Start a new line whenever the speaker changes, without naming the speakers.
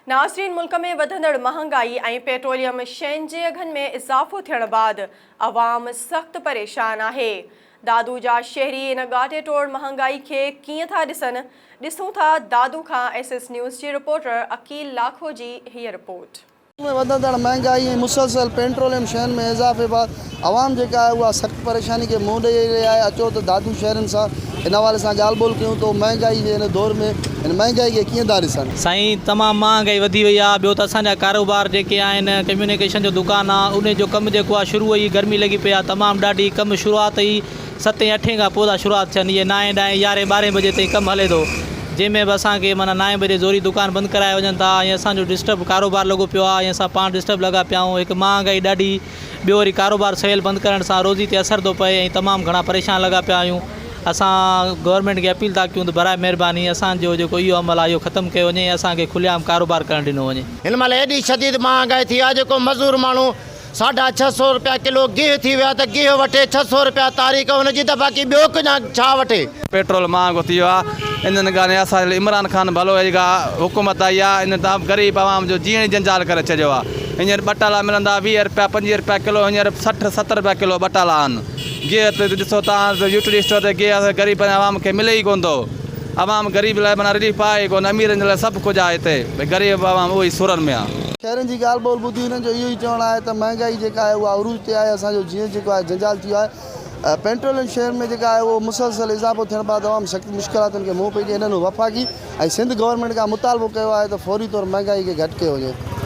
ناظرين ملڪ ۾ وڌندڙ مهانگائي ۽ پيٽروليم شين جي اگهن ۾ اضافو ٿيڻ بعد عوام سخت پريشان آهي. دادو جا شهري ان ڳاٽي ٽوڙ مهانگائي کي ڪيئن ٿا ڏسن، ڏسون ٿا دادو کان ايس ايس نيوز جي رپورٽر عقيل لاکو جي هيء رپورٽ. ملڪ ۾ وڌندڙ
مهانگائي ۽ مسلسل پيٽروليم شين ۾ اضافي بعد عوام جيڪا آهي اها سخت پريشاني کي منهن ڏئي رهي آهي اچو ته دادو شهرين سان ان حوالي سان ڳالهه ٻولهه ڪيون ته هو مهانگائي جي هن دور ۾ هن مهانگائي کي ڪيئن ٿا ڏسن. سائين تمام مهانگائي
وڌي وئي آهي ٻيو ته اسان جا ڪاروبار جيڪي آهن ڪميونيڪيشن جو دڪان آهي انهي جو ڪم جيڪو آهي شروع ئي گرمي لڳي پئي آهي تمام ڏاڍي ڪم شروعات ئي ستين اٺين کان پودا شروعات ٿين اهي نائين ڏهين يارهين ٻارهين بجي تائين ڪم هلي ٿو جنهن ۾ به اسان کي معنيٰ نائين بجي زوري دڪان بند ڪرايا وڃن ٿا ۽ اسان جو ڊسٽرب ڪاروبار لڳو پيو آهي ۽ اسان پاڻ ڊسٽرب لڳا پيا آهيون هڪ مهانگائي ڏاڍي ٻيو وري ڪاروبار سويل بند ڪرڻ سان روزي تي اثر ٿو پئي ۽ تمام گهڻا پريشان لڳا پيا آهيون اسان گورنمينٽ کي اپيل ٿا ڪيون ته براء مهرباني اسان جو جيڪو اهو عمل آهي اهو ختم ڪيو وڃي ۽ اسان کي کلي عام ڪاروبار ڪرڻ ڏنو وڃي. هن مهل ايڏي شديد
مهانگائي ٿي آهي جيڪو مزور ماڻهو ساڍا ڇهه سئو رپيا ڪلو گيهه ٿي ويو آهي ته گيهه وٺي ڇهه سئو رپيا تاريخ ان جي ته باقي ٻيو ڪجا ڇا وٺي. پيٽرول مهانگو ٿي
ويو آهي انهن ڳالهين اسان جي عمران خان ڀلو آهي جيڪا حڪومت آئي آهي ان ته غريب عوام جو جيئڻ ئي جنجال ڪري ڇڏيو آهي. هينئر ٻٽالا ملندا ويهه رپيا پنجويهه رپيا ڪلو هينئر سٺ ست رپيا ڪلو ٻٽالا آهن گيهه تي ڏسو تان ته يو ٽي ڊي اسٽور تي گيهه غريب عوام کي ملي ئي ڪون ٿو عوام غريب لاء معنيٰ رليف آهي ئي ڪون اميرن جي لاء سڀ ڪجهه آهي هتي ڀئي غريب عوام اهو ئي سورن ۾ آهي. شهرين جي ڳالهه ٻولهه
ٻڌي هنن جو اهو ئي چوڻ آهي ته مهانگائي جيڪا آهي اها عروج تي آهي اسان جو جيئڻ جيڪو آهي جنجال ٿي ويو آهي پينٽروليم شهر ۾ جيڪا آهي اهو مسلسل اضافو ٿيڻ بعد عوام سخت مشڪلاتن کي منهن پئي ڏئي هنن وفاقي ۽ سنڌ گورنمينٽ کان مطالبو ڪيو آهي ته فوري طور مهانگائي کي گهٽ ڪيو وڃي.